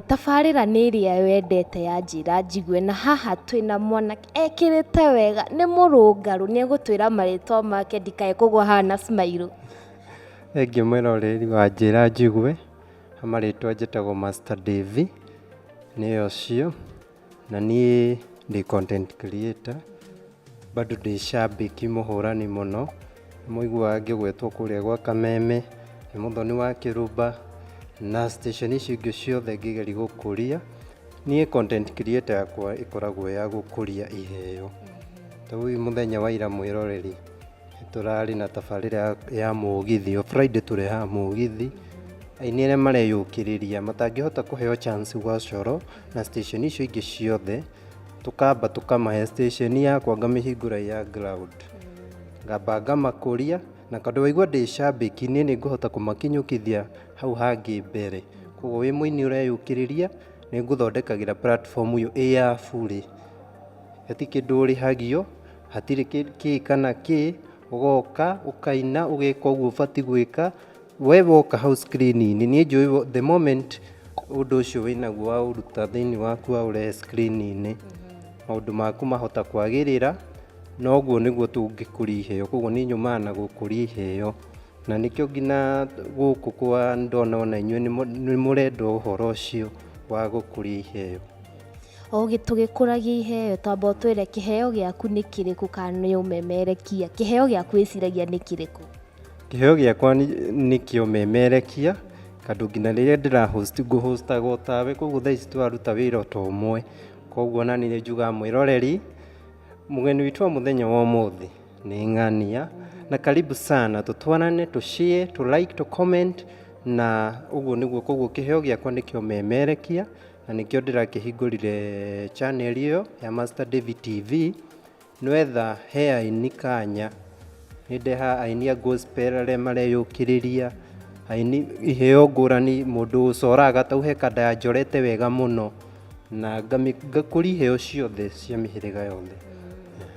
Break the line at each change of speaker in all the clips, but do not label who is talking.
Tabarĩra nĩ ĩrĩa wendete ya njĩra njigue, na haha twĩna mwanake ekĩrĩte wega, nĩ mũrũngarũ, nĩ egũtwĩra marĩtwa make ndikae kũgwa haha na smile. Niĩ
ngĩ mũroreri wa njĩra njigue, marĩtwa njĩtagwo Master Davie, nĩ ũcio. Na niĩ ndĩ content creator, bado ndĩ shabiki mũhũrani mũno, nĩ mũiguaga ngĩgwetwo kũrĩa gwa Kameme, nĩ mũthoni wa Kĩrumba, na station icio ingĩ ciothe ngĩgeria gũkũria. Niĩ content creator yakwa ĩkoragwo ya gũkũria iheo. Ta rĩu mũthenya wa ira mwĩroreri. Tũrarĩ na tabarĩra ya mũgithi, o Friday tũrehaga mũgithi, aini arĩa mareyũkĩrĩria matangĩhota kũheo chance gwa Coro na station icio ingĩ ciothe, tũkamba tũkamahe. Station yakwa ngamĩhingũra ĩ ya ground, ngamba ngamakũria, na tondũ waigua ndĩ cambĩki niĩ nĩ ngũhota kũmakinyũkithia hau hangĩ mbere. Koguo wĩ mũini ũreyũkĩrĩria, nĩ ngũthondekagĩra platform ĩyo ĩ ya burĩ, gũtirĩ kĩndũ ũrĩhagio. Hatirĩ kĩndũ kĩĩ kana kĩĩ, ũgoka ũkaina ũgeka ũguo ũbatiĩ gwĩka, we woka hau screen inĩ niĩ njũĩ the moment ũndũ ũcio wĩnaguo waũruta thĩinĩ waku waũrehe screen inĩ maũndũ maku mahota kwagĩrĩra na ũguo nĩguo tũngĩkũria iheo kwoguo niĩ nyumaga na gũkũria iheo na nĩkĩo nginya gũkũ kwa nĩndona ona inyuĩ nĩmũrenda ũhoro ũcio wa gũkũria iheo. O gĩ-
tũgĩkũragia iheo twamba ũtwĩre kĩheo gĩaku nĩ kĩrĩkũ kana nĩ ũmemerekia kĩheo gĩaku wĩciragia nĩ kĩrĩkũ kĩheo gĩakwa
nĩ- nĩ kĩa ũmemerekia tondũ nginya rĩrĩa ndĩra host ngũhostaga o tawe koguo thaa ici tũraruta wĩra o ta ũmwe koguo ona niĩ nĩ njugaga mwĩroreri mũgeni witũ wa mũthenya wa ũmũthĩ nĩ ng'ania na karibu sana tũtwarane tũ share tũ like tũ comment na ũguo nĩguo koguo kĩheo gĩakwa nĩ kĩa ũmemerekia na nĩkĩo ndĩrakĩhingũrire channel ĩyo ya Master Davy TV nĩwetha he aini kanya nĩndeha aini a gospel arĩa mareyũkĩrĩria aini iheo ngũrani mũndũ ũcoraga tau he kanda ya njorete wega mũno na ngami- ngakũria iheo ciothe cia mĩhĩrĩga yothe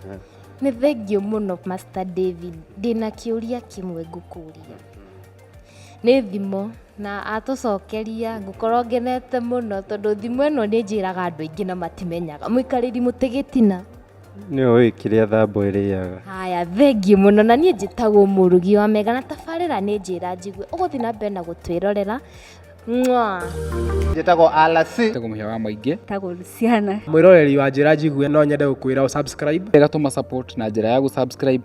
Aha.
nĩ thengiũ mũno master david ndĩna kĩũria kĩmwe ngũkũria Nĩ thimũ, na atũcokeria ngũkorwo ngenete mũno tondũ thimũ ĩno nĩ njĩraga andũ aingĩ na matimenyaga. Mũikarĩri mũtĩ gĩtina. Nĩ ũĩ
kĩrĩa thambwe ĩrĩaga. Haya, thengiũ
mũno. Na niĩ njĩtagwo mũrugi wa mega na tabarĩra nĩ njĩra njigue. Ũgũthiĩ na mbere na gũtwĩrorera. Mwaa.
Njĩtagwo Alasi. Njĩtagwo mũhĩa wa maingĩ.
Njĩtagwo Luciana.
Mwĩroreri wa njĩra
njigue no nyende gũkwĩra ũ subscribe. Wega tũma support na
njĩra ya gũ subscribe